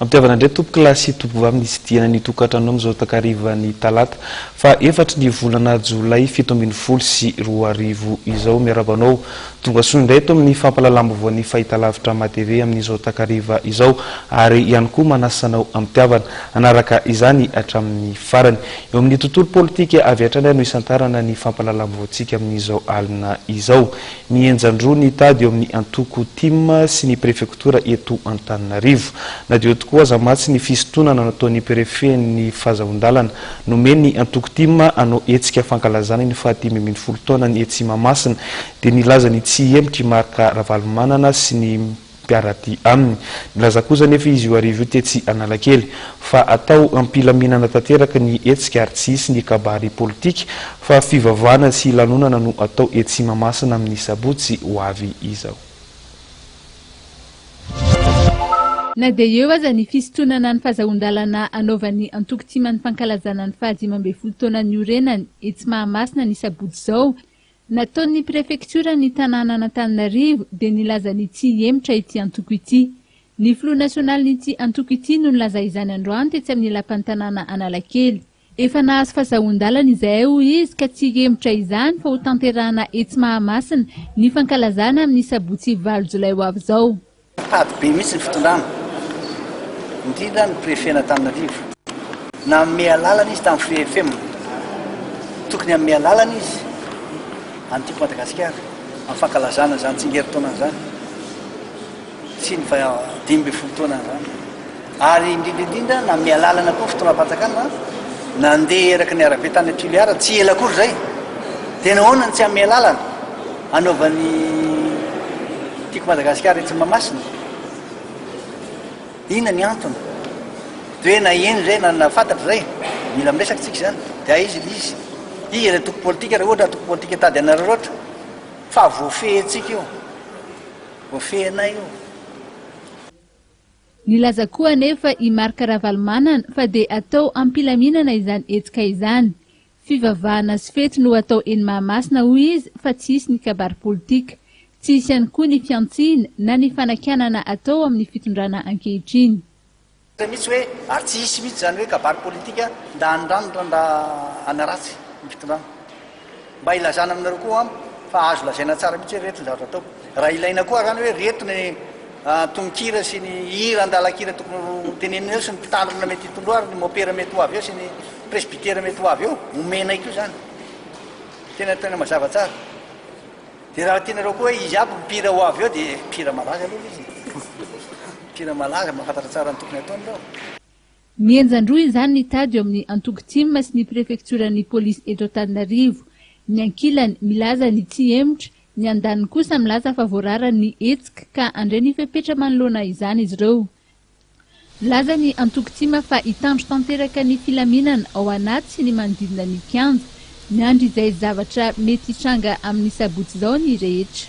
Ampihavana indray tompokolahy sy tompom-vavy ny tsidihana ny tokantranonao amin'izao takarivan'ny talata faha efatry ny volana jolay fito ambin'ny folo sy roa arivo izao. Miarahaba anao tonga soa indray eto amin'ny fampahalalam-baovaon'ny fahitalavitra matv amin'izao takariva izao ary ihany koa manasa anao ampihavana hanaraka izany hatramin'ny farany. Eo amin'ny tontolo politika avy hatrany ary no hisantarana ny fampahalalam-baovaontsika amin'izao alina izao. Ny henjan-droa ny tady eo amin'ny antoko tim sy ny prefektora eto Antananarivo. Na dia eo tokoa aza mantsy ny fisintonana nataon'ny prefen'ny fazahoan-dalana, nomen'ny antoko tim hanao hetsika fankalazana ny fahatimy ambin'ny folo taonany etsy Mahamasina, dia nilaza ny tsy hihemitra i Marc Ravalomanana sy ny. mpiara-dia aminy. Nilaza kosa anefa izy io hariva io tetsy Analakely, fa atao am-pilaminana tanteraka ny hetsika ary tsy hisy ny kabary politika, fa fivavahana sy lanonana no atao etsy Mahamasina amin'ny sabotsy ho avy izao. Na dia eo aza ny fisintonana ny fazahoan-dalana anaovan'ny antoko Tima ny fankalazana ny fahadimy ambin'ny folo taona niorenany etsy Mahamasina ny sabotsy izao, Nataon'ny prefektioran'ny tanànan'Antananarivo dia nilaza ny tsy hihemotra ity antoko ity. Ny filoha nasionalin'ity antoko ity no nilaza izany androany tetsy amin'ny lapan'ny tanàna Analakely. Efa nahazo fazahoan-dalana izahay hoy izy ka tsy hihemotra izany fa hotanterahana etsy Mahamasina ny fankalazana amin'ny sabotsy valo jolay ho avy izao. Tady be mihitsy ny fitondrana, indrindra ny prefen'Antananarivo. Nanome alalana izy tamin'ny Free FM. Tokony hanome alalana izy an'ny Tiako Madagasikara amin'ny fankalazana izany tsingerin-taona izany sy ny dimy ambin'ny folo taonany izany. Ary indrindra indrindra nanome alalana koa ny fitondram-panjakana nandeha eraky ny arabe tany Toliara tsy ela akory izay. Dia nahoana no tsy hanome alalana hanaovan'ny Tiako Madagasikara etsy Mahamasina? Inona ny antony? Dia hoe na eny izay na na fantatra izay, mila miresaka isika izany. Dia aiza ilay izy? Iza ilay antoko politika raha ohatra antoko politika tady an'Araraotra? Fa voafehintsika io. Voafehinay io. Nilaza koa anefa i Marc Ravalomanana fa dia atao am-pilaminana izany hetsika izany. Fivavahana sy fety no atao eny Mahamasina hoy izy fa tsy hisy ny kabary politika. Tsy hisy ihany koa ny fihantsiana na ny fanakianana atao amin'ny fitondrana ankehitriny. Hita mihitsy hoe ary tsy hisy mihitsy izany hoe kabary politika ndà an'i Rano ndà an'i Ratsy ny fitondrana. Mba ilazana aminareo koa ho'am fa azo lazaina tsara mihitsy hoe reto ny zavatra atao. Raha ilaina koa arany hoe reto ny tononkira sy ny hira an-dalan-kira tokony ho tenenina eo sy ny mpitandrina mety hitondroa ary ny mopera mety ho avy eo sy ny presbytera mety ho avy eo, omenay koa izany. Tena, tena mazava tsara. Dia raha tianareo koa hoe izy aby ny mpihira ho avy eo dia mpihira malaza aloha ilay izy e. Mpihira malaza, mahafantatra tsara ny tokony hataony ireo. Mihenjan-droa izany ny tady eo amin'ny antoko tim sy ny prefektioran'ny polisy eto Antananarivo. Ny ankilany milaza ny tsy hemotra, ny andaniny kosa milaza fa voarara ny hetsika ka handray ny fepetra manoloana izany izy ireo. Milaza ny antoko tim fa hitandro tanteraka ny filaminana ao anaty sy ny manodidina ny kianja. Miandry izay zavatra mety hitranga amin'ny sabotsy izao ny rehetra.